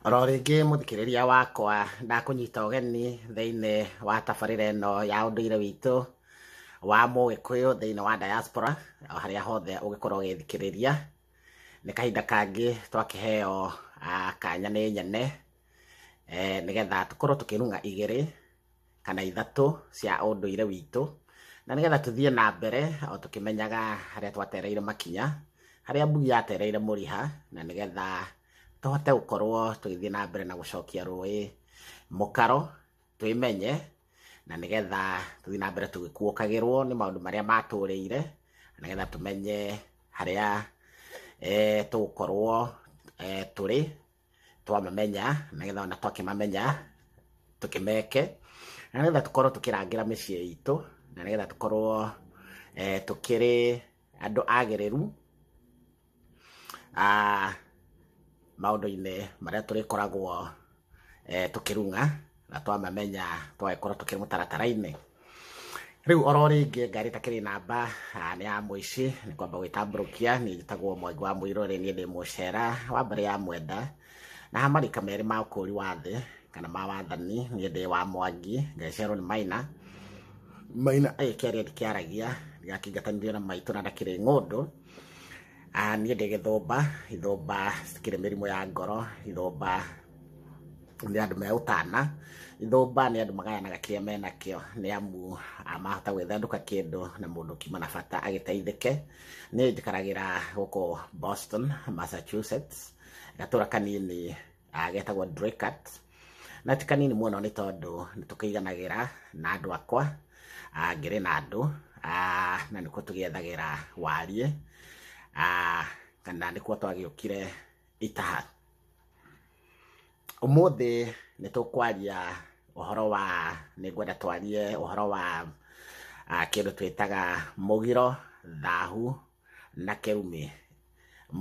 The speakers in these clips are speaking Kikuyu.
oro rĩngĩ mũthikĩrĩria wakwa ndakũnyita ũgeni thĩinĩ wa tabarĩra ĩno ya ũndũire witũ wa mũgĩkũyũ thĩinĩ wa diaspora o harĩa hothe ũgĩkorwo ũgĩthikĩrĩria nĩ kahinda kangĩ twakĩheo ah, kanya nĩ nyene eh, nĩgetha tũkorwo tũkĩrung'a igĩrĩ kana ithatũ cia ũndũire witũ na nĩgetha tũthiĩ na mbere o tũkĩmenyaga harĩa twatereire makinya harĩa mbugi yatereire mũriha na nĩgetha tũhote gũkorwo tũgĩthiĩ na mbere na gũcokia rũĩ mũkaro twĩmenye na nĩgetha tũthiĩ na mbere tũgĩkuũkagĩrwo nĩ maũndũ marĩa matũrĩire na nĩgetha tũmenye harĩa eh, tũgũkorwo eh, tũrĩ twamamenya nĩgetha ona twakĩmamenya tũkĩmeke na nĩgetha tũkorwo tũkĩrangĩra mĩciĩ itũ na nĩgetha tũkorwo eh, tũkĩrĩ andũ agĩrĩru ah, maũndũ-inĩ marĩa tũrĩkoragwo eh, tũkĩrung'a na twamamenya twagĩkorwo tũkĩrĩ mũtaratara-inĩ rĩu oro rĩngĩ ngari takĩrĩ namba ah, nĩ ya mũici nĩ kwamba gwĩtambũrũkia niĩ njĩtagwo mwangi wa mũirũ rĩ niĩ ndĩ mũcera wa mbere ya mwenda na marika merĩ ma ũkũũri wa thĩ kana ma wathani niĩ ndĩ wa mwangi ngeciarwo nĩ maina maina agĩkĩaria ndikĩaragia ndigakingatanirio na maitũ na ndakĩrĩ ng'ũndũ Ah, niĩ ndĩ gĩthũmba ithũmba cikĩrĩ mĩrimũ ya ngoro ithũmba nĩ andũ me ũtana ithũmba nĩ andũ magayanaga kĩrĩa menakĩo nĩ amu ah, mahota gwĩthandũka kĩndũ na mũndũ kiuma na bata agĩteithĩke nĩ njikaragĩra gũkũ boston massachusetts gatũra kanini ah, getagwo Draycott na ti kanini mũno nĩ tondũ nĩ tũkĩiganagĩra na andũ akwa ah, ngĩrĩ na andũ ah, na nĩkuo tũgĩethagĩra wariĩ ah, kana nĩkuo twagĩũkire itaha Ũmũthĩ nĩ tũkwaria ũhoro wa nĩ ngwenda twarie ũhoro wa ah, kĩndũ twĩtaga mũgiro thahu na kĩrumi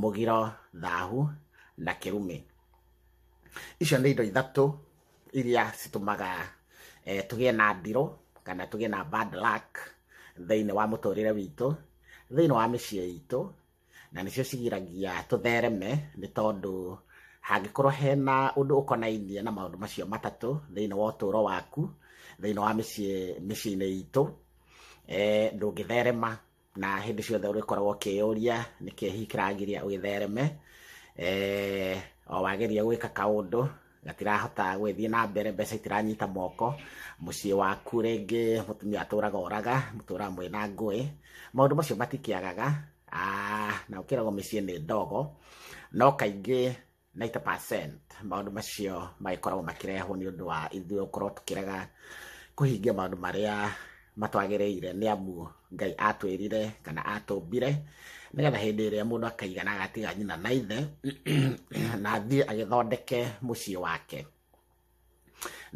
mũgiro thahu na kĩrumi icio nĩ indo ithatũ iria citũmaga eh, tũgĩe na ndirũ kana tũgĩe na bad luck thĩinĩ wa mũtũrĩre witũ thĩinĩ wa mĩciĩ itũ na nĩcio cigiragia tũthereme nĩ tondũ hangĩkorwo hena ũndũ ũkonainie na maũndũ macio matatũ thĩinĩ wa ũtũũro waku thĩinĩ wa mĩciĩ mĩciĩ-inĩ itũ eh, ndũngĩtherema na hĩndĩ ciothe ũrĩkoragwo ũkĩyũria nĩkĩ hihi kĩragiria ũgĩthereme eh, o wageria gwĩka kaũndũ gatirahota gwĩthiĩ na mbere mbeca itiranyita moko mũciĩ waku rĩngĩ mũtumia atũraga oraga mũtũraga mwĩ na ngũĩ maũndũ macio matikĩagaga Ah, na ũkĩragwo mĩciĩ nĩ ndogo no kaingĩ 90% maũndũ macio magĩkoragwo makĩrehwo nĩ ũndũ wa ithuĩ gũkorwo tũkĩrega kũhingia maũndũ marĩa matwagĩrĩire nĩ amu ngai atwĩrire kana atũmbire nĩgetha hĩndĩ ĩrĩa mũndũ akaigana agatiga nyina na ithe na athiĩ agĩthondeke mũciĩ wake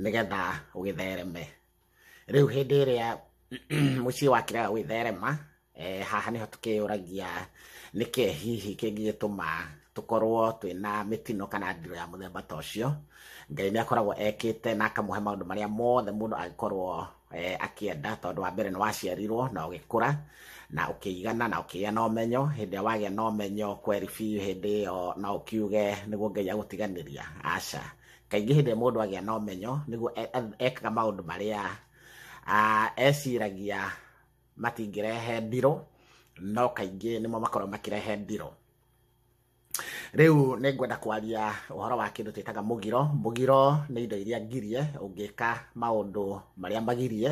nĩgetha ũgĩthereme rĩu hĩndĩ ĩrĩa mũciĩ wakĩrega gwĩtherema Eh, haha nĩho tũkĩyũragia nĩkĩ hihi kĩngĩgĩtũma tũkorwo twĩna mĩtino kana ndiro ya mũthemba ta ũcio ngai nĩ akoragwo ekĩte na akamũhe maũndũ marĩa mothe mũndũ angĩkorwo eh, akĩenda tondũ wa mbere nĩ waciarirwo na ũgĩkũra na ũkĩigana na ũkĩgĩa na ũmenyo hĩndĩ ĩrĩa wagĩa na ũmenyo kweri biũ hĩndĩ ĩyo no ũkiuge nĩguo ngai agũtiganĩria aca kaingĩ hĩndĩ ĩrĩa mũndũ agĩa na ũmenyo nĩguo e- e- ekaga maũndũ marĩa ah, eciragia matingĩrehe ndirũ no kaingĩ nĩmo makorwo makĩrehe ndirũ rĩu nĩ ngwenda kwaria ũhoro wa kĩndũ twĩtaga mũgiro mũgiro nĩ indo iria ngirie ũngĩka maũndũ marĩa magirie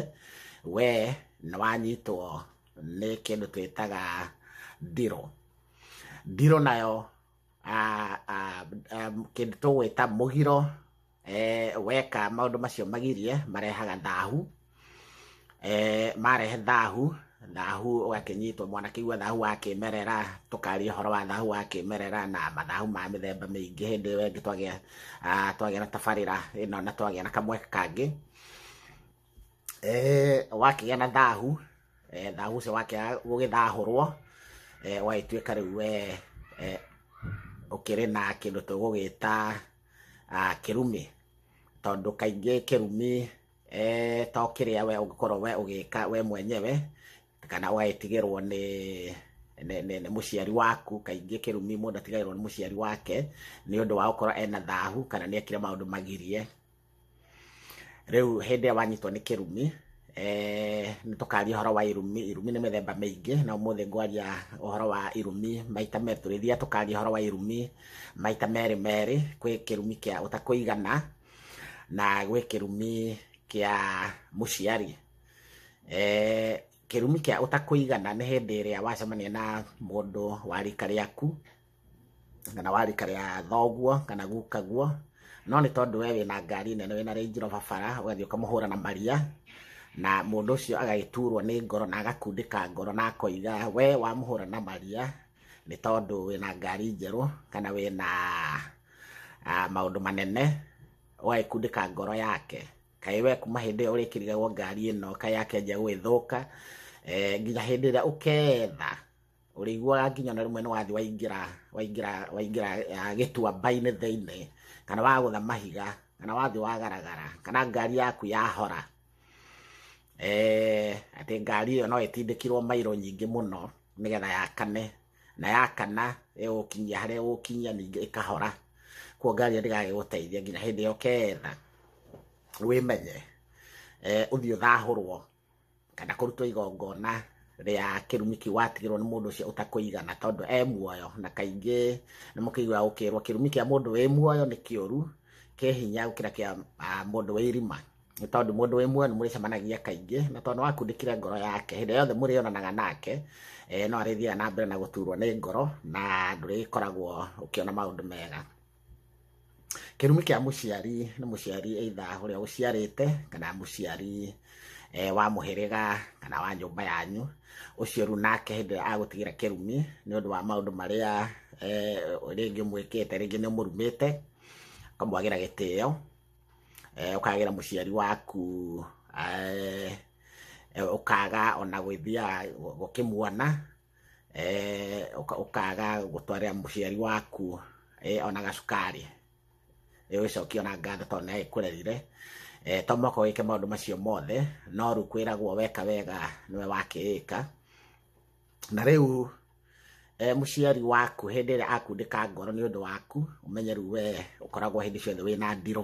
we nĩ wanyitwo nĩ kĩndũ twĩtaga ndirũ ndirũ nayo ah, ah, ah, kĩndũ tũgwĩta mũgiro eh, weka maũndũ macio magirie marehaga thahu eh, marehe thahu thahu ũgakĩnyitwo mwana kĩigua thahu wa kĩmerera tũkaria ũhoro wa thahu wa kĩmerera na mathahu ma mĩthemba mĩingĩ hĩndĩ ĩyo ĩngĩ twagĩa ah, twagĩa na tabarĩra ĩno na twagĩa na kamwe kangĩ eh, wakĩgĩa na thahu eh, thahu ũcio wakĩaga gũgĩthahũrwo eh, wagĩtuĩka rĩu we eh, ũkĩrĩ na kĩndũ tũgũgĩta Ah, kĩrumi tondũ kaingĩ kĩrumi eh, to kĩrĩa we ũngĩkorwo we ũgĩka we mwenyewe kana ũgagĩtigĩrwo nĩ nĩ- nĩ nĩ mũciari waku kaingĩ kĩrumi mũndũ atigagĩrwo nĩ mũciari wake nĩ ũndũ wa gũkorwo ena thahu kana nĩ ekire maũndũ magirie rĩu hĩndĩ ĩrĩa wanyitwo nĩ kĩrumi eh, nĩ tũkaria ũhoro wa irumi irumi nĩ mĩthemba mĩingĩ na ũmũthĩ ngwaria ũhoro wa irumi maita merĩ tũrĩthia tũkaria ũhoro wa irumi maita merĩ merĩ kwĩ kĩrumi kĩa ũtakũigana na gwĩ kĩrumi kĩa mũciari eh, kĩrumi kĩa ũtakũigana nĩ hĩndĩ ĩrĩa wacemania na mũndũ wa rika rĩaku kana warĩ karĩa thoguo kana gukaguo no nĩ tondũ we wĩna ngari nene wĩna Range Rover bara ũgathiĩ ũkamũhũra na maria na mũndũ ũcio agagĩturwo nĩ ngoro na agakundĩka ngoro na akoiga we wamũhũra na maria nĩ tondũ wĩna ngari njerũ kana wĩna ah, maũndũ manene ũgagĩkundĩka ngoro yake kaĩ we kuma hĩndĩ ĩyo ũrĩkĩrigagwo ngari ĩno kaĩ yake nja gũgĩthũka eh, nginya hĩndĩ ĩrĩa ũketha ũrĩiguaga nginya na rĩmwe nĩ wathi waingĩra waingĩra waingĩra ah, gĩtuamba-inĩ thĩinĩ kana wagũtha mahiga kana wathi wagaragara kana ngari yaku yahora eh, atĩ ngari ĩyo no ĩtindĩkirwo mairo nyingĩ mũno nĩgetha yakane na yakana ĩgũkinyia harĩa ĩgũkinyia ningĩ ĩkahora kuo ngari ĩyo ndĩgagĩgũteithia nginya hĩndĩ ĩyo ketha wĩmenye eh, ũthiĩ ũthahũrwo kana kũrutwo igongona rĩa kĩrumi kĩu watigĩrwo nĩ mũndũ ũcio ũtakũigana tondũ e muoyo na kaingĩ nĩ mũkĩigua gũkĩrwo kĩrumi kĩa mũndũ wĩ muoyo nĩ kĩũru kĩ hinya gũkĩra kĩa ah, mũndũ wĩ irima nĩ tondũ mũndũ wĩ muoyo nĩ mũrĩcemanagia kaingĩ na tondũ nĩ wakundĩkire ngoro yake hĩndĩ yothe mũrĩonanaga nake eh, no arĩthiaga na mbere na gũturwo nĩ ngoro na ndũrĩkoragwo ũkĩona maũndũ mega kĩrumi kĩa mũciari nĩ mũciari either ũrĩa ũciarĩte kana mũciari eh, wa mũhĩrĩga kana wa nyũmba yanyu ũcio rĩu nake hĩndĩ ĩrĩa agũtigĩra kĩrumi nĩ ũndũ wa maũndũ marĩa eh, rĩngĩ mwĩkĩte rĩngĩ nĩ mũrumĩte ũkamwagĩra gĩtĩo eh, ũkagĩra mũciari waku eh, eh, ũkaga ona gwĩthiaga gũkĩmuona eh, ũka- ũkaga gũtwarĩra mũciari waku eh, ona gacukari Eh, wĩcokie ona ngatho tondũ nĩ agĩkũrerire Eh, to mũhaka wĩke maũndũ macio mothe no rĩu kwĩragwo weka wega nĩwe wakĩĩka na rĩu eh, mũciari waku hĩndĩ ĩrĩa akundĩka ngoro nĩ ũndũ waku ũmenye rĩu we ũkoragwo hĩndĩ ciothe wĩna ndirũ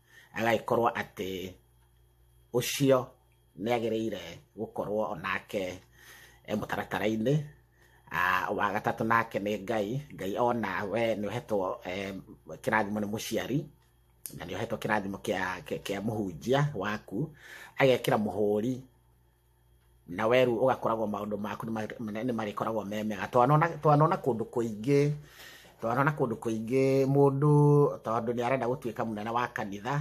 agagĩkorwo atĩ ũcio nĩ agĩrĩire gũkorwo onake e mũtaratara-inĩ ah, wa gatatũ nake nĩ ngai ngai ona we nĩ ũhetwo eh, kĩrathimo nĩ mũciari na nĩ ũhetwo kĩrathimo kĩa kĩa mũhunjia waku agekĩra mũhũri na we rĩu ũgakoragwo maũndũ maku nĩ marĩkoragwo me mega twanona kũndũ kũingĩ twanona kũndũ kũingĩ mũndũ tondũ nĩ arenda gũtuĩka mũnene wa kanitha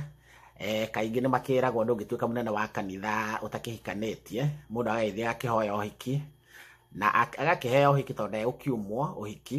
eh, kaingĩ nĩ makĩragwo ndũngĩtuĩka mũnene wa kanitha ũtakĩhikanĩtie mũndũ agagĩthiĩ agakĩhoya ũhiki na agakĩheo ũhiki tondũ ndegũkiumwo ũhiki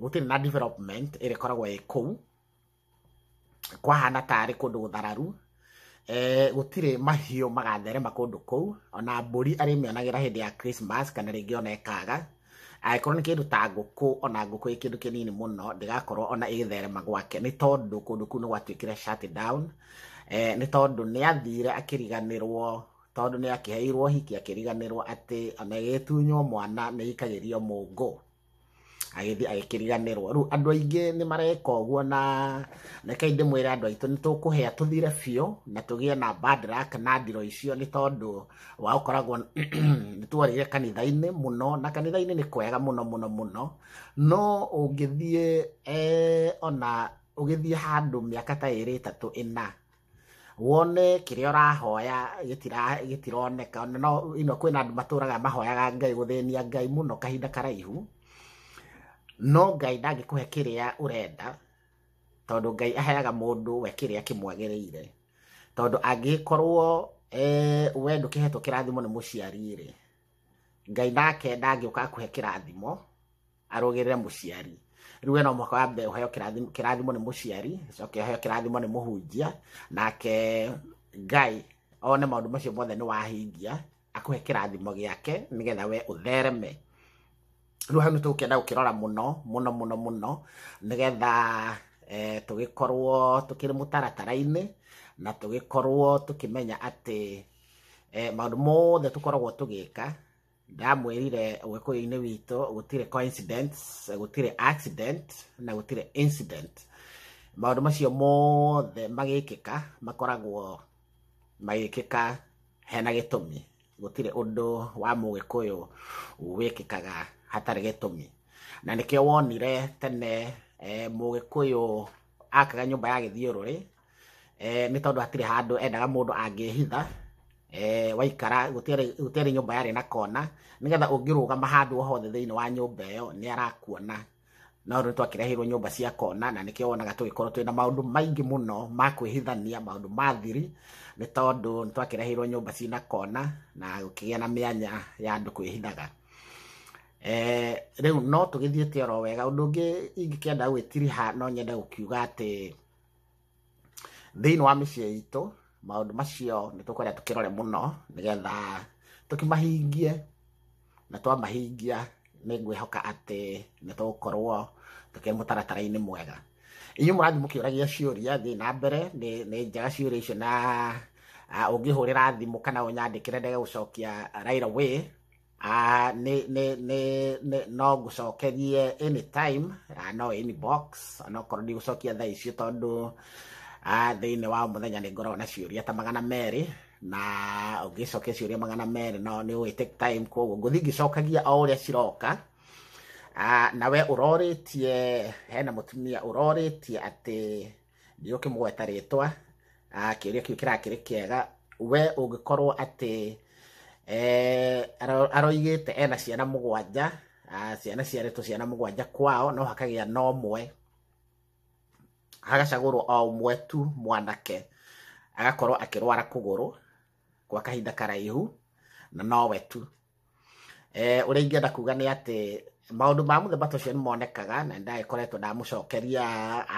gũtirĩ na development ĩrĩa ĩkoragwo ĩ kũu kwahana tarĩ kũndũ gũthararu eh, gũtirĩ mahiũ magatherema kũndũ kũu ona mbũri arĩmĩonagĩra hĩndĩ ya Christmas kana rĩngĩ ona ĩkaga angĩkorwo nĩ kĩndũ ta ngũkũ ona ngũkũ ĩ kĩndũ kĩnini mũno ndĩgakorwo ona ĩgĩtherema gwake nĩ tondũ kũndũ kũu nĩ gwatuĩkire shut down eh, nĩ tondũ nĩ athire akĩriganĩrwo tondũ nĩ akĩheirwo hiki akĩriganĩrwo atĩ ona ĩgĩtunywo mwana nĩ ĩikagĩrio mũngũ agĩthiĩ agĩkĩriganĩrwo rĩu andũ aingĩ nĩ mareka ũguo na reke ndĩmwĩre andũ aitũ nĩ tũkũhĩa tũthire biũ na tũgĩe na bad luck na ndiro icio nĩ tondũ wa ũkoragwo nĩ tworĩire kanitha-inĩ mũno na kanitha-inĩ nĩ kwega mũno mũno mũno no ũngĩthiĩ eh, ona ũgĩthiĩ handũ mĩaka ta ĩrĩ ĩtatũ ĩna wone kĩrĩa ũrahoya gĩtira- gĩtironeka Ona no ino kwĩna andũ matũraga mahoyaga ngai gũthĩnia ngai mũno kahinda karaihu no ngai ndangĩkũhe kĩrĩa ũrenda tondũ ngai aheaga mũndũ we kĩrĩa kĩmwagĩrĩire tondũ angĩkorwo eh, we ndũkĩhetwo kĩrathimo nĩ mũciari rĩ ngai nake ndangĩũka akũhe kĩrathimo arũgĩrĩre mũciari rĩu ena mwaka wa mbere ũheo kĩrathimo- kĩrathimo nĩ mũciari coke ũheo kĩrathimo nĩ mũhunjia nake ngai one maũndũ macio mothe nĩ wahingia akũhe kĩrathimo gĩake nĩgetha we ũthereme rĩu hau nĩ tũgũkĩenda gũkĩrora mũno mũno mũno mũno nĩgetha eh, tũgĩkorwo tũkĩrĩ mũtaratara-inĩ na tũgĩkorwo tũkĩmenya atĩ eh, maũndũ mothe tũkoragwo tũgĩka ndamwĩrire ũgĩkũyũ-inĩ witũ gũtirĩ coincidence gũtirĩ accident na gũtirĩ incident maũndũ macio mothe magĩkĩka makoragwo magĩkĩka hena gĩtũmi gũtirĩ ũndũ wa mũgĩkũyũ wĩkĩkaga hatarĩ gĩtũmi na nĩkĩo wonire tene eh, mũgĩkũyũ akaga nyũmba ya gĩthiũrũrĩ eh, nĩ tondũ hatirĩ handũ endaga mũndũ angĩhitha eh, waikara gũtiarĩ nyũmba yarĩ na kona nĩgetha ũngĩrũgama handũ o hothe thĩinĩ wa nyũmba ĩyo nĩ arakuona no rĩu twakĩrehirwo nyũmba cia kona na nĩkĩo wonaga tũgĩkorwo twĩna maũndũ maingĩ mũno ma kwĩhithania maũndũ ma thiri nĩ tondũ nĩ twakĩrehirwo nyũmba cina kona na gũkĩgĩa na mĩanya ya andũ kwĩhithaga Eh, rĩu no tũgĩthiĩte oro wega ũndũ ũngĩ ingĩkĩenda gwĩtiriha no nyende gũkiuga atĩ thĩinĩ wa mĩciĩ itũ maũndũ macio nĩ tũkwenda tũkĩrore mũno nĩgetha tũkĩmahingie na twamahingia nĩ ngwĩhoka atĩ nĩ tũgũkorwo tũkĩrĩ mũtaratara-inĩ mwega inyuĩ mũrathiĩ mũkĩũragia ciũria thiĩ na mbere nĩ nĩ njega ciũria icio na ah, ũngĩhũrĩra thimũ kana ũnyandĩkĩre ndege gũcokia right away Ah, nĩ nĩ nĩ nĩ no ngũcokerie anytime ah, no inbox onokorwo ndigũcokia thaa icio tondũ ah, thĩinĩ wa mũthenya nĩ ngoragwo na ciũria ta magana merĩ na ũngĩcokia ciũria magana merĩ no nĩ ũĩ take time koguo ngũthiĩ ngĩcokagia o ũrĩa ciroka Ah, na we ũrorĩtie hena mũtumia ũrorĩtie atĩ nĩ ũkĩmũgweta rĩtwa ah, kĩũria kĩu kĩrakĩrĩ kĩega we ũngĩkorwo atĩ eh, aro- aroigĩte ena ciana mũgwanja ah, ciana ciarĩtwo ciana mũgwanja kwao no hakagĩa na ũmwe hagacagũrwo o ũmwe tu mwanake agakorwo akĩrwara kũgũrũ gwa kahinda karaihu na nowe tu eh, ũrĩa ingĩenda kuga nĩ atĩ maũndũ ma mũthemba ta ũcio nĩ monekaga na ndagĩkoretwo ndamũcokeria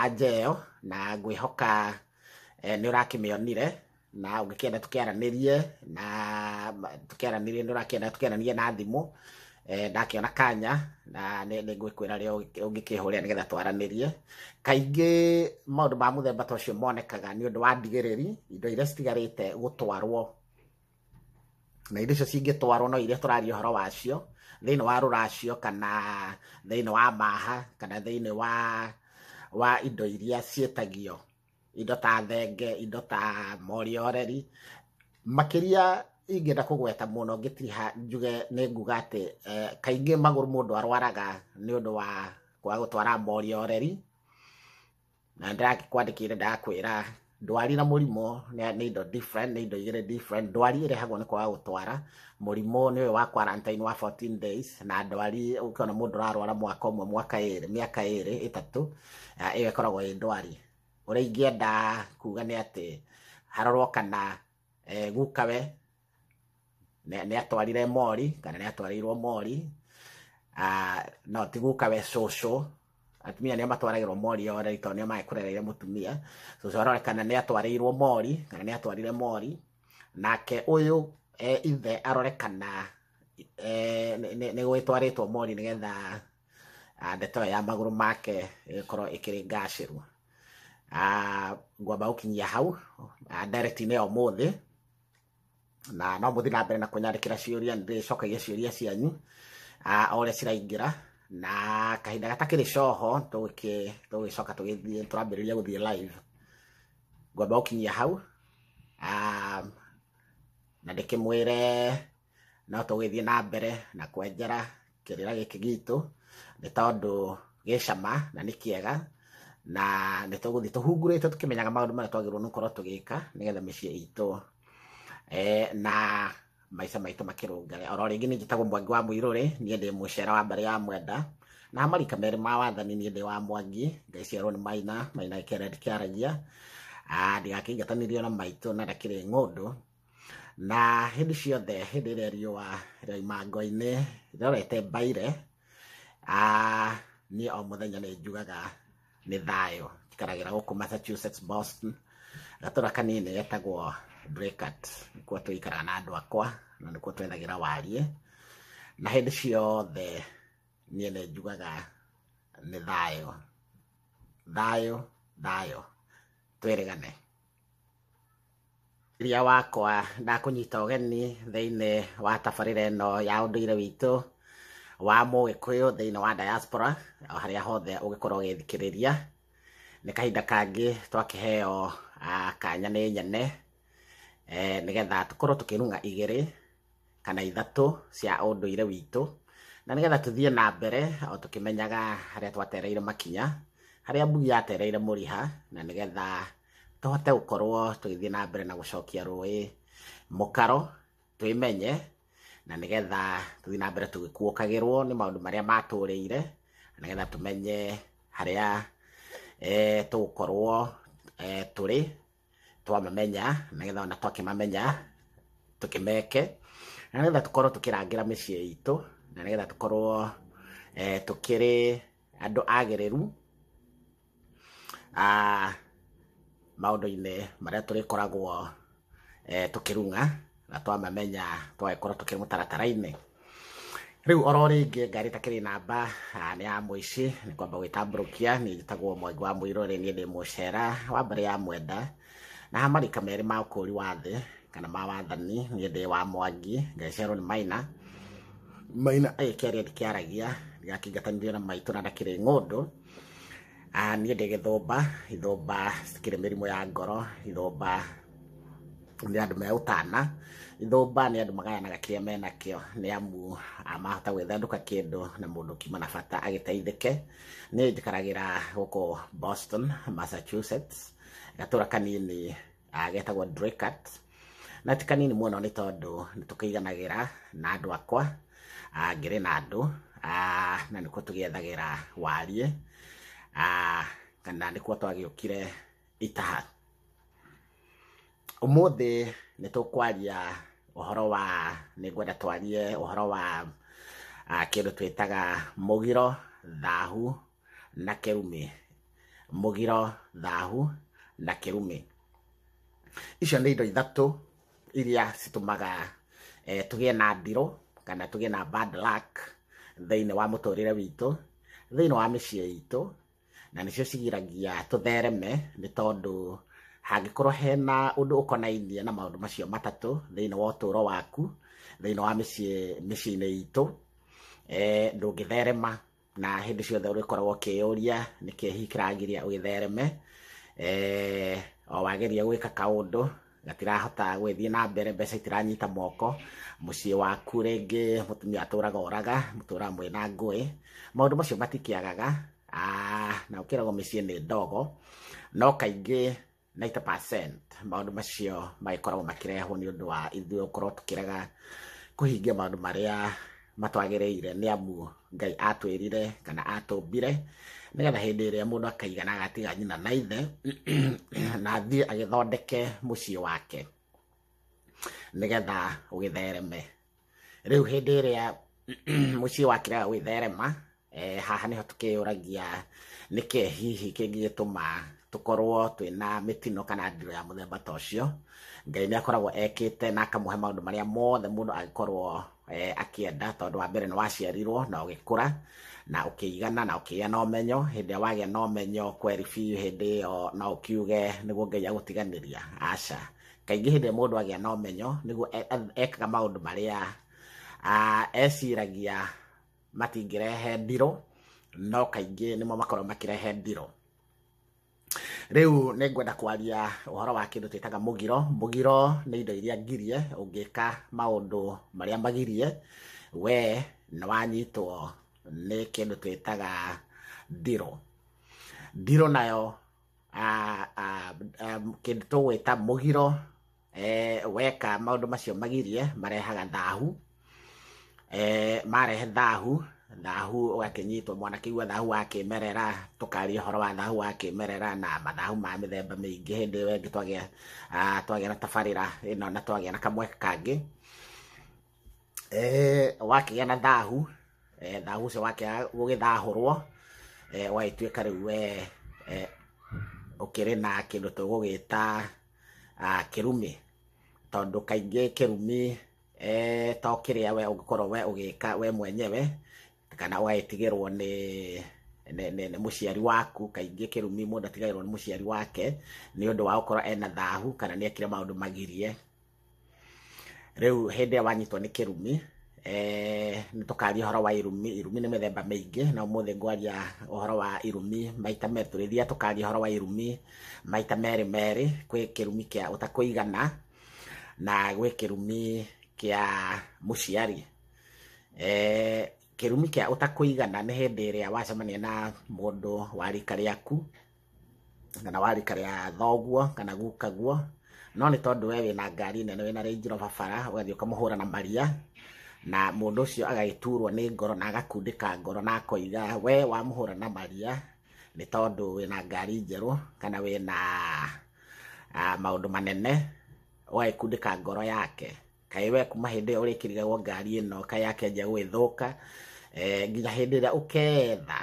anja ĩyo na ngwĩhoka eh, nĩ ũrakĩmĩonire na ũngĩkĩenda tũkĩaranĩrie na tũkĩaranĩrie nĩ ũrakĩenda tũkĩaranĩrie na thimũ eh, ndakĩona kanya na nĩ nĩ ngwĩkwĩra rĩo ũngĩkĩhũrĩra nĩgetha twaranĩrie kaingĩ maũndũ ma mũthemba ta ũcio monekaga nĩ ũndũ wa ndigĩrĩri indo iria citigarĩte gũtwarwo na indo icio cingĩtwarwo no iria tũraria ũhoro wacio thĩinĩ wa rũracio kana thĩinĩ wa maha kana thĩinĩ wa wa indo iria ciĩtagio indo ta thenge indo ta morioreri makĩria ingĩenda kũgweta mũno ngĩtiriha njuge nĩ nguga atĩ eh, kaingĩ magũrũ mũndũ arwaraga nĩ ũndũ wa kwaga gũtwara morioreri na ndĩrakwandĩkĩire ndakwĩra ndwari na mũrimũ nĩ indo different nĩ indo igĩrĩ different ndwari ĩrehagwo nĩ kwaga gũtwara mũrimũ nĩ ũyũ wa quarantine wa 14 days na ndwari ũkiona mũndũ ũrarwara mwaka ũmwe mwaka ĩrĩ mĩaka ĩrĩ ĩtatũ Ah, ĩyo ĩkoragwo ĩ ndwari ũrĩa ingĩenda kuga nĩ atĩ harorwo kana eh, gukawe nĩ nĩ atwarire mori kana nĩ atwarĩirwo mori Ah, no ti gukawe cũcũ atumia nĩo matwaragĩrwo mori o rĩu tondũ nĩo maĩ kũrereire mũtumia cũcũ arore kana nĩ atwarĩirwo mori kana nĩ atwarire mori nake ũyũ eh, ithe arore kana eh, nĩ- nĩ nĩ gwĩtwarĩtwo mori nĩgetha Ah, ndeto ĩyo ya magũrũ make ĩgĩkorwo ĩkĩrĩ ngacĩru Ah, ngwamba gũkinyia hau ah, ndereti-inĩ ya ũmũthĩ na no mũthi na mbere na kũnyandĩkĩra ciũria nĩ ndĩcokagia ciũria cianyu ah, o ũrĩa ciraingĩra na kahinda gatakĩrĩ coho tũgĩkĩ- tũgĩcoka tũgĩthiĩ tũrambĩrĩria gũthiĩ live ngwamba gũkinyia hau Ah, na ndĩkĩmwĩre no tũgĩthiĩ na mbere na kwenjera kĩrĩra gĩkĩ gitũ nĩ tondũ gĩ cama na nĩ kĩega na nĩ tũgũthiĩ tũhungurĩte tũkĩmenyaga maũndũ marĩa twagĩrĩirwo nĩ gũkorwo tũgĩka nĩgetha mĩciĩ itũ eh, na maica maitũ makĩrũngare oro rĩngĩ nĩ njĩtagwo mwangi wa mũirũrĩ niĩ ndĩ mũcera wa mbarĩ ya mwenda na marika merĩ ma wathani niĩ ndĩ wa mwangi ngaiciarwo nĩ maina maina kĩara ndikĩaragia Ah, ndigakĩingatanirio na maitũ na ndakĩrĩ ng'ũndũ na hĩndĩ ciothe hĩndĩ ĩrĩa riũa rĩaima ngwa-inĩ rĩrorete mbaire ah, niĩ o mũthenya nĩ njugaga nĩ thayũ njikaragĩra gũkũ massachusetts boston gatũra kanini getagwo brekat nĩkuo tũikaraga na andũ akwa na nĩkuo twethagĩra wariĩ na hĩndĩ ciothe niĩ nĩ njugaga nĩ thayũ thayũ thayũ twĩrĩgane iria wakwa ndakũnyita ũgeni thĩinĩ wa tabarĩra ĩno ya ũndũire witũ wa mũgĩkũyũ thĩinĩ wa diaspora o harĩa hothe ũgĩkorwo ũgĩthikĩrĩria nĩ kahinda kangĩ twakĩheo ah, kanya nĩ nyene eh, nĩgetha tũkorwo tũkĩrung'a igĩrĩ kana ithatũ cia ũndũire witũ na nĩgetha tũthiĩ na mbere o tũkĩmenyaga harĩa twatereire makinya harĩa mbugi yatereire mũriha na nĩgetha tũhote gũkorwo tũgĩthiĩ na mbere na gũcokia rũĩ mũkaro twĩmenye na nĩgetha tũthiĩ na mbere tũgĩkuũkagĩrwo nĩ maũndũ marĩa matũrĩire na nĩgetha tũmenye harĩa eh, tũgũkorwo eh, tũrĩ twamamenya nĩgetha ona twakĩmamenya tũkĩmeke na nĩgetha tũkorwo tũkĩrangĩra mĩciĩ itũ na nĩgetha tũkorwo eh, tũkĩrĩ andũ agĩrĩru ah, maũndũ-inĩ marĩa tũrĩkoragwo eh, tũkĩrung'a na twamamenya twagĩkorwo tũkĩrĩ mũtaratara-inĩ rĩu oro rĩngĩ ngari ĩtakĩrĩ namba ah, nĩ ya mũici nĩ kwamba gwĩtambũrũkia niĩ njĩtagwo mwangi wa mũirũ rĩ niĩ ndĩ mũcera wa mbere ya mwenda na marika merĩ ma ũkũũri wa thĩ kana ma wathani niĩ ndĩ wa mwangi ngĩcerwo nĩ maina maina agĩkĩaria ndikĩaragia ndĩgakĩngatanirio na maitũ na ndakĩrĩ ng'ũndũ Ah, niĩ ndĩ gĩthũmba ithũmba citikĩrĩ mĩrimũ ya ngoro ithũmba nĩ andũ megũtana ithũmba nĩ andũ magayanaga kĩrĩa menakĩo nĩ amu ah, mahota gwĩthandũka kĩndũ na mũndũ kiuma na bata agĩteithĩke niĩ njikaragĩra gũkũ boston massachusetts gatũra kanini ah, getagwo Draycott na ti kanini mũno nĩ tondũ nĩ tũkĩiganagĩra na andũ akwa ah, ngĩrĩ na andũ ah, na nĩkuo tũgĩethagĩra wariĩ ah, kana nĩkuo twagĩũkire itaha Ũmũthĩ nĩ tũkwaria ũhoro wa nĩ ngwenda twarie ũhoro wa ah, kĩndũ twĩtaga mũgiro thahu na kĩrumi mũgiro thahu na kĩrumi icio nĩ indo ithatũ iria citũmaga eh, tũgĩe na ndirũ kana tũgĩe na bad luck thĩinĩ wa mũtũrĩre witũ thĩinĩ wa mĩciĩ itũ na nĩcio cigiragia tũthereme nĩ tondũ hangĩkorwo hena ũndũ ũkonainie na maũndũ macio matatũ thĩinĩ wa ũtũũro waku thĩinĩ wa mĩciĩ mĩciĩ-inĩ itũ eh, ndũngĩtherema na hĩndĩ ciothe ũrĩkoragwo ũkĩyũria nĩkĩ hihi kĩragiria ũgĩthereme eh, o wageria gwĩka kaũndũ gatirahota gwĩthiĩ na mbere mbeca itiranyita moko mũciĩ waku rĩngĩ mũtumia atũraga oraga mũtũraga mwĩ na ngũĩ maũndũ macio matikĩagaga Ah, na ũkĩragwo mĩciĩ nĩ ndogo no kaingĩ 90% maũndũ macio magĩkoragwo makĩrehwo nĩ ũndũ wa ithuĩ gũkorwo tũkĩrega kũhingia maũndũ marĩa matwagĩrĩire nĩ amu ngai atwĩrire kana atũmbire nĩgetha hĩndĩ ĩrĩa mũndũ akaigana agatiga nyina na ithe na athiĩ agĩthondeke mũciĩ wake nĩgetha ũgĩthereme rĩu hĩndĩ ĩrĩa mũciĩ wakĩrega gwĩtherema Eh, haha nĩho tũkĩyũragia nĩkĩ hihi kĩngĩgĩtũma tũkorwo twĩna mĩtino kana ndiro ya mũthemba ta ũcio ngai nĩ akoragwo ekĩte na akamũhe maũndũ marĩa mothe mũndũ angĩkorwo eh, akĩenda tondũ wa mbere nĩ waciarirwo na ũgĩkũra na ũkĩigana na ũkĩgĩa na ũmenyo hĩndĩ ĩrĩa wagĩa na ũmenyo kweri biũ hĩndĩ ĩyo no ũkiuge nĩguo ngai agũtiganĩria aca kaingĩ hĩndĩ ĩrĩa mũndũ agĩa na ũmenyo nĩguo e- e- ekaga maũndũ marĩa ah, eciragia matingĩrehe ndirũ no kaingĩ nĩmo makorwo makĩrehe ndirũ rĩu nĩ ngwenda kwaria ũhoro wa kĩndũ twĩtaga mũgiro mũgiro nĩ indo iria ngirie ũngĩka maũndũ marĩa magirie we nĩ wanyitwo nĩ kĩndũ twĩtaga ndirũ ndirũ nayo kĩndũ tũgwĩta mũgiro eh, weka maũndũ macio magirie marehaga thahu eh, marehe thahu thahu ũgakĩnyitwo mwana kĩigua thahu wa kĩmerera tũkaria ũhoro wa thahu wa kĩmerera na mathahu ma mĩthemba mĩingĩ hĩndĩ ĩyo ĩngĩ twagĩa ah, twagĩa na tabarĩra ĩno na twagĩa na kamwe kangĩ eh, wakĩgĩa na thahu eh, thahu ũcio wakĩaga gũgĩthahũrwo eh, wagĩtuĩka rĩu we eh, ũkĩrĩ na kĩndũ tũgũgĩta Ah, kĩrumi tondũ kaingĩ kĩrumi eh, to kĩrĩa we ũngĩkorwo we ũgĩka we mwenyewe kana ũgagĩtigĩrwo nĩ nĩ- nĩ nĩ mũciari waku kaingĩ kĩrumi mũndũ atigagĩrwo nĩ mũciari wake nĩ ũndũ wa gũkorwo ena thahu kana nĩ ekire maũndũ magirie rĩu hĩndĩ ĩyo wanyitwo nĩ kĩrumi eh, nĩ tũkaria ũhoro wa irumi irumi nĩ mĩthemba mĩingĩ na ũmũthĩ ngwaria ũhoro wa irumi maita merĩ tũrĩthiaga tũkaria ũhoro wa irumi maita merĩ merĩ kwĩ kĩrumi kĩa ũtakũigana na gwĩ kĩrumi kĩa mũciari eh, kĩrumi kĩa ũtakũigana nĩ hĩndĩ ĩrĩa wacemania na mũndũ wa rika rĩaku kana wa rika rĩa thoguo kana gukaguo no nĩ tondũ we wĩna ngari nene wĩna Range Rover bara ũgathiĩ ũkamũhũra na maria na mũndũ ũcio agagĩturwo nĩ ngoro na agakundĩka ngoro na akoiga we wamũhũra na maria nĩ tondũ wĩna ngari njerũ kana wĩna ah, maũndũ manene ũgagĩkundĩka ngoro yake kaĩ we kuma hĩndĩ ĩyo ũrĩkĩrigagwo ngari ĩno kaĩ yake nja gwĩthũka eh, nginya hĩndĩ ĩrĩa ũketha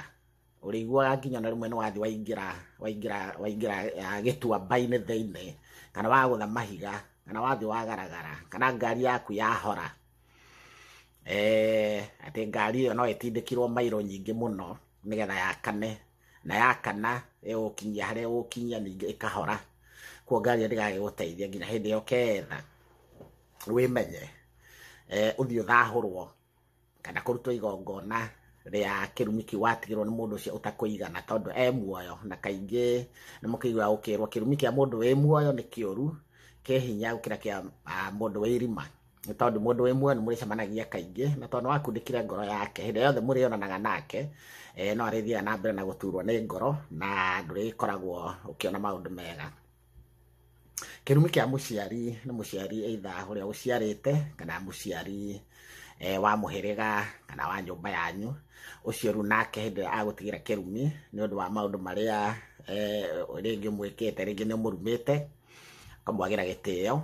ũrĩiguaga nginya na rĩmwe nĩ wathi waingĩra waingĩra waingĩra ah, gĩtuamba-inĩ thĩinĩ kana wagũtha mahiga kana wathi wagaragara kana ngari yaku yahora eh, atĩ ngari ĩyo no ĩtindĩkirwo mairo nyingĩ mũno nĩgetha yakane na yakana ĩgũkinyia harĩa ĩgũkinyia ningĩ ĩkahora kuo ngari ĩyo ndĩgagĩgũteithia nginya hĩndĩ ĩyo ketha wĩmenye eh, ũthiĩ ũthahũrwo kana kũrutwo igongona rĩa kĩrumi kĩu watigĩrwo nĩ mũndũ ũcio ũtakũigana tondũ e muoyo na kaingĩ nĩ mũkĩigua gũkĩrwo kĩrumi kĩa mũndũ wĩ muoyo nĩ kĩũru kĩ hinya gũkĩra kĩa ah, mũndũ wĩ irima nĩ tondũ mũndũ wĩ muoyo nĩ mũrĩcemanagia kaingĩ na tondũ nĩ wakundĩkire ngoro yake hĩndĩ yothe mũrĩonanaga nake eh, no arĩthiaga na mbere na gũturwo nĩ ngoro na ndũrĩkoragwo ũkĩona maũndũ mega kĩrumi kĩa mũciari nĩ mũciari either ũrĩa ũciarĩte kana mũciari eh, wa mũhĩrĩga kana wa nyũmba yanyu ũcio rĩu nake hĩndĩ ĩrĩa agũtigĩra kĩrumi nĩ ũndũ wa maũndũ marĩa eh, rĩngĩ mwĩkĩte rĩngĩ nĩ mũrumĩte ũkamwagĩra gĩtĩo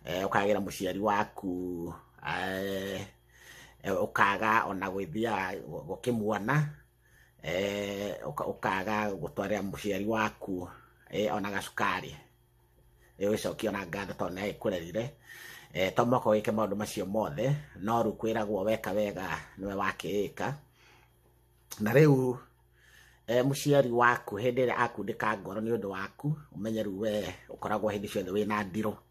eh, ũkagĩra mũciari waku eh, eh, ũkaga ona gwĩthiaga gũkĩmuona eh, ũka- ũkaga gũtwarĩra mũciari waku eh, ona gacukari Eh, wĩcokie ona ngatho tondũ nĩ agĩkũrerire Eh, to mũhaka wĩke maũndũ macio mothe no rĩu kwĩragwo weka wega nĩwe wakĩĩka na rĩu eh, mũciari waku hĩndĩ ĩrĩa akundĩka ngoro nĩ ũndũ waku ũmenye rĩu we ũkoragwo hĩndĩ ciothe wĩna ndirũ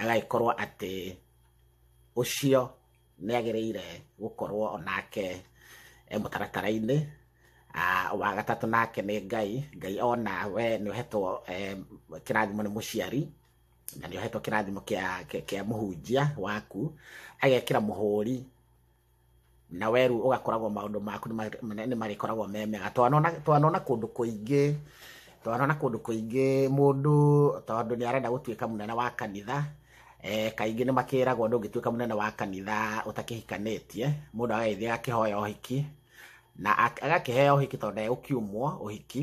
agagĩkorwo atĩ ũcio nĩ agĩrĩire gũkorwo onake e mũtaratara-inĩ Ah, wa gatatũ nake nĩ ngai ngai ona we nĩ ũhetwo eh, kĩrathimo nĩ mũciari na nĩ ũhetwo kĩrathimo kĩa kĩa- kĩa mũhunjia waku agekĩra mũhũri na we rĩu ũgakoragwo maũndũ maku nĩ marĩkoragwo me mega twanona kũndũ kũingĩ twanona kũndũ kũingĩ mũndũ tondũ nĩ arenda gũtuĩka mũnene wa kanitha eh, kaingĩ nĩ makĩragwo ndũngĩtuĩka mũnene wa kanitha ũtakĩhikanĩtie mũndũ agagĩthiĩ agakĩhoya ũhiki na agakĩheo ũhiki tondũ ndegũkiumwo ũhiki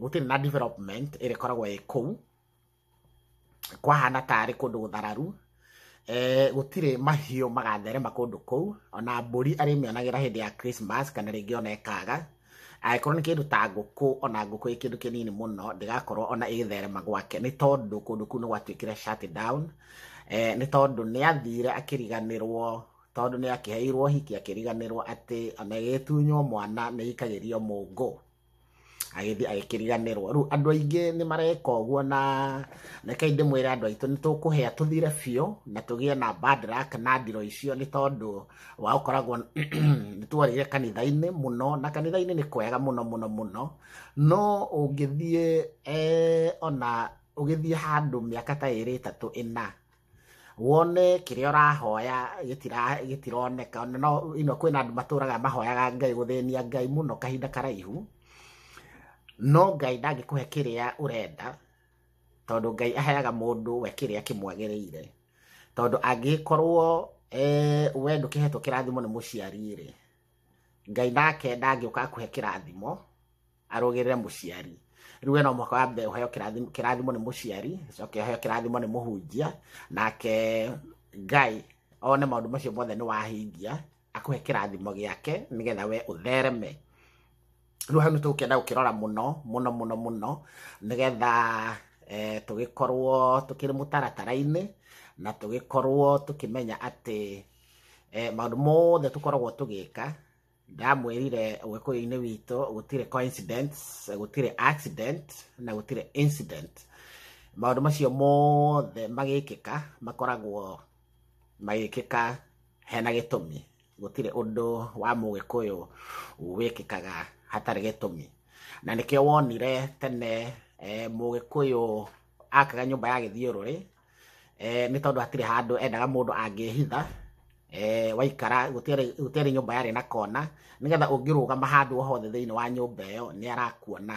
gũtirĩ na development ĩrĩa ĩkoragwo ĩ kũu kwahana tarĩ kũndũ gũthararu eh, gũtirĩ mahiũ magatherema kũndũ kũu ona mbũri arĩmĩonagĩra hĩndĩ ya Christmas kana rĩngĩ ona ĩkaga angĩkorwo nĩ kĩndũ ta ngũkũ ona ngũkũ ĩ kĩndũ kĩnini mũno ndĩgakorwo ona ĩgĩtherema gwake nĩ tondũ kũndũ kũu nĩ gwatuĩkire shut down eh, nĩ tondũ nĩ athire akĩriganĩrwo tondũ nĩ akĩheirwo hiki akĩriganĩrwo atĩ ona ĩgĩtunywo mwana nĩ ikagĩrio mũngũ agĩthiĩ agĩkĩriganĩrwo rĩu andũ aingĩ nĩ mareka ũguo na reke ndĩmwĩre andũ aitũ nĩ tũkũhĩa tũthire biũ na tũgĩe na bandrak na ndiro icio nĩ tondũ wa ũkoragwo nĩ twarĩire kanitha-inĩ mũno na kanitha-inĩ nĩ kwega mũno mũno mũno no ũngĩthiĩ eh, ona ũgĩthiĩ handũ mĩaka ta ĩrĩ ĩtatũ ĩna wone kĩrĩa ũrahoya gĩtira- gĩtironeka Ona no ino kwĩna andũ matũraga mahoyaga ngai gũthĩnia ngai mũno kahinda karaihu no ngai ndangĩkũhe kĩrĩa ũrenda tondũ ngai aheaga mũndũ we kĩrĩa kĩmwagĩrĩire tondũ angĩkorwo eh, we ndũkĩhetwo kĩrathimo nĩ mũciari rĩ ngai nake ndangĩũka akũhe kĩrathimo arũgĩrĩre mũciari rĩu ena mwaka wa mbere ũheo kĩrathimo- kĩrathimo nĩ mũciari coke ũheo kĩrathimo nĩ mũhunjia nake ngai one maũndũ macio mothe nĩ wahingia akũhe kĩrathimo gĩake nĩgetha we ũthereme rĩu hau nĩ tũgũkĩenda gũkĩrora mũno mũno mũno mũno nĩgetha eh, tũgĩkorwo tũkĩrĩ mũtaratara-inĩ na tũgĩkorwo tũkĩmenya atĩ eh, maũndũ mothe tũkoragwo tũgĩka ndamwĩrire ũgĩkũyũ-inĩ witũ gũtirĩ coincidence gũtirĩ accident na gũtirĩ incident maũndũ macio mothe magĩkĩka makoragwo magĩkĩka hena gĩtũmi gũtirĩ ũndũ wa mũgĩkũyũ wĩkĩkaga hatarĩ gĩtũmi na nĩkĩo wonire tene eh, mũgĩkũyũ akaga nyũmba ya gĩthiũrũrĩ eh, nĩ tondũ hatirĩ handũ endaga mũndũ angĩhitha eh, waikara gũtiarĩ nyũmba yarĩ na kona nĩgetha ũngĩrũgama handũ o hothe thĩinĩ wa nyũmba ĩyo nĩ arakuona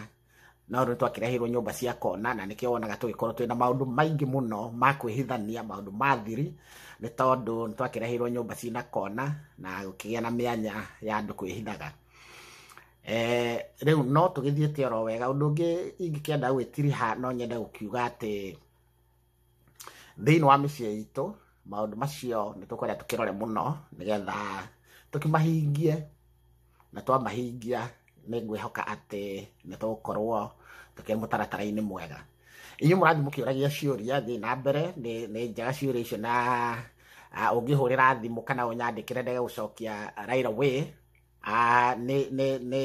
no rĩu twakĩreheirwo nyũmba cia kona na nĩkĩo wonaga tũgĩkorwo twĩna maũndũ maingĩ mũno ma kwĩhithania maũndũ ma thiri nĩ tondũ nĩ twakĩreheirwo nyũmba cina kona na gũkĩgĩa na mĩanya ya andũ kwĩhithaga Eh, rĩu no tũgĩthiĩte oro wega ũndũ ũngĩ ingĩkĩenda gwĩtiriha no nyende gũkiuga atĩ thĩinĩ wa mĩciĩ itũ maũndũ macio nĩ tũkwenda tũkĩrore mũno nĩgetha tũkĩmahingie na twamahingia nĩ ngwĩhoka atĩ nĩ tũgũkorwo tũkĩrĩ mũtaratara-inĩ mwega inyuĩ mũrathiĩ mũkĩũragia ciũria thiĩ na mbere nĩ nĩ njega ciũria icio na ah, ũngĩhũrĩra thimũ kana ũnyandĩkĩre ndege gũcokia right away Ah, nĩ nĩ nĩ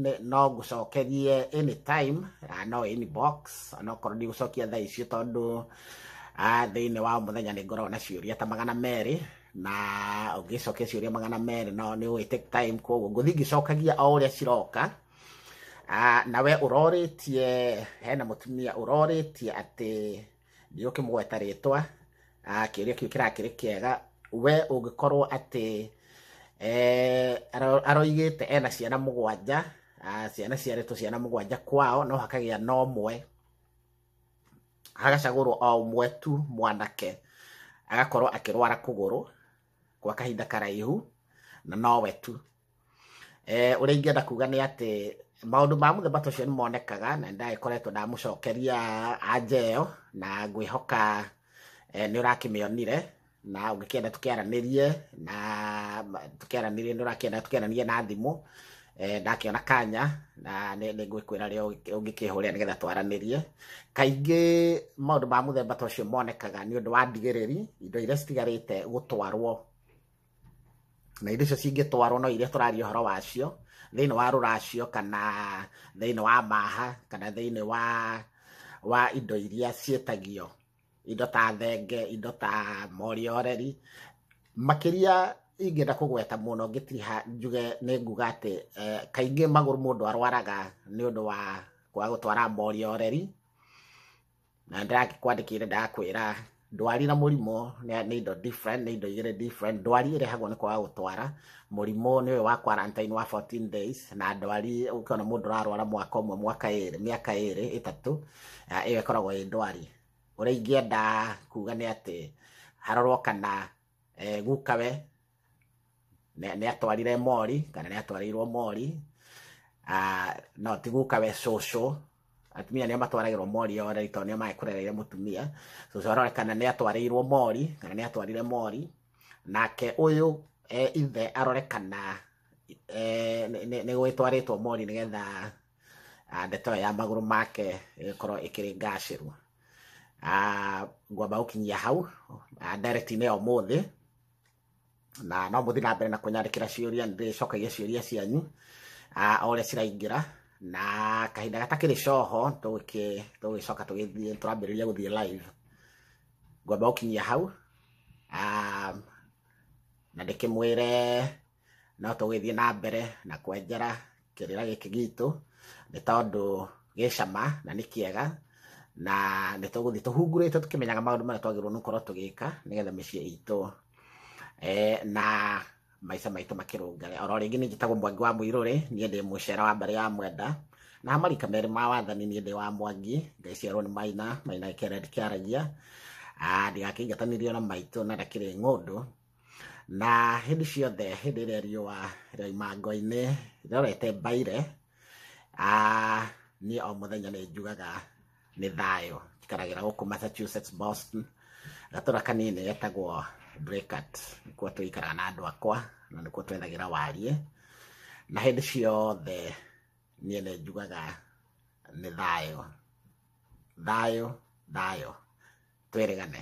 nĩ no ngũcokerie anytime ah, no inbox onokorwo ndigũcokia thaa icio tondũ ah, thĩinĩ wa mũthenya nĩ ngoragwo na ciũria ta magana merĩ na ũngĩcokia ciũria magana merĩ no nĩ ũgĩ take time koguo ngũthiĩ ngĩcokagia o ũrĩa ciroka Ah, na we ũrorĩtie hena mũtumia ũrorĩtie atĩ nĩ ũkĩmũgweta rĩtwa ah, kĩũria kĩu kĩrakĩrĩ kĩega we ũngĩkorwo atĩ eh, aro- aroigĩte ena ciana mũgwanja ah, ciana ciarĩtwo ciana mũgwanja kwao no hakagĩa na ũmwe hagacagũrwo o ũmwe tu mwanake agakorwo akĩrwara kũgũrũ gwa kahinda karaihu na nowe tu eh, ũrĩa ingĩenda kuga nĩ atĩ maundu ma mũthemba ta ũcio nĩ monekaga na ndagĩkoretwo ndamũcokeria anja ĩyo na ngwĩhoka eh, nĩ ũrakĩmĩonire na ũngĩkĩenda tũkĩaranĩrie na tũkĩaranĩrie nĩ ũrakĩenda tũkĩaranĩrie na thimũ eh, ndakĩona kanya na nĩ ngwĩkwĩra rĩo ũngĩkĩhũrĩa nĩgetha twaranĩrie kaingĩ maũndũ ma mũthemba ta ũcio monekaga nĩ ũndũ wa ndigĩrĩri indo iria citigarĩte gũtwarwo na indo icio cingĩtwarwo no iria tũraria ũhoro wacio thĩinĩ wa rũracio kana thĩinĩ wa maha kana thĩinĩ wa wa indo iria ciĩtagio indo ta thenge indo ta morioreri makĩria ingĩenda kũgweta mũno ngĩtiriha njuge nĩ nguga atĩ eh, kaingĩ magũrũ mũndũ arwaraga nĩ ũndũ wa kwaga gũtwara morioreri na ndĩragĩkwandĩkĩire ndakwĩra ndwari na mũrimũ nĩ nĩ indo different nĩ indo igĩrĩ different ndwari ĩrehagwo nĩ kwaga gũtwara mũrimũ nĩ ũyũ wa quarantine wa 14 days na ndwari ũkĩona mũndũ ũrarwara mwaka ũmwe mwaka ĩrĩ mĩaka ĩrĩ ĩtatũ ah, ĩyo ĩkoragwo ĩ ndwari ũrĩa ingĩenda kuga nĩ atĩ harorwo kana eh, gukawe Nĩ- nĩ atwarire mori kana nĩ atwarĩirwo mori Ah, no ti guka we cũcũ atumia nĩo matwaragĩrwo mori ore tondũ nĩo maĩ kũrereire mũtumia cũcũ aronekana nĩ atwarĩirwo mori kana nĩ atwarire mori nake ũyũ e, ithe arorekana e, nĩ- nĩ nĩ gwĩtwarĩtwo mori nĩgetha ah, ndeto ĩyo ya magũrũ make ĩgĩkorwo ĩkĩrĩ ngacĩru Ah, ngwamba gũkinyia hau Ah, ndereti-inĩ ya ũmũthĩ na no mũthi na mbere na kũnyandĩkĩra ciũria ndĩcokagia ciũria cianyu ah, o ũrĩa ciraingĩra na kahinda gatakĩrĩ coho tũgĩke- tũgĩcoka tũgĩthiĩ tũrambĩrĩria gũthiĩ live ngwamba gũkinyia hau Ah, na ndĩkĩmwĩre no tũgĩthiĩ na mbere na kwenjera kĩrĩra gĩkĩ gitũ nĩ tondũ gĩ cama na nĩ kĩega na nĩ tũgũthiĩ tũhungurĩte tũkĩmenyaga maũndũ marĩa twagĩrĩirwo nĩ gũkorwo tũgĩka nĩgetha mĩciĩ itũ eh, na maica maitũ makĩrũngare oro rĩngĩ nĩ njĩtagwo mwangi wa mũirũrĩ niĩ ndĩ mũcera wa mbarĩ ya mwenda na marika merĩ ma wathani niĩ ndĩ wa mwangi ngaiciarwo nĩ maina maina kĩara ndikĩaragia Ah, ndigakĩingatanirio na maitũ na ndakĩrĩ ng'ũndũ na hĩndĩ ciothe hĩndĩ ĩrĩa riũa rĩoima ngo-inĩ rĩorete mbaire ah, niĩ o mũthenya nĩ njugaga nĩ thayũ njikaragĩra gũkũ massachusetts boston gatũra kanini getagwo Draycott nĩkuo tũikaraga na andũ akwa na nĩkuo twethagĩra wariĩ na hĩndĩ ciothe niĩ nĩ njugaga nĩ thayũ thayũ thayũ twĩrĩgane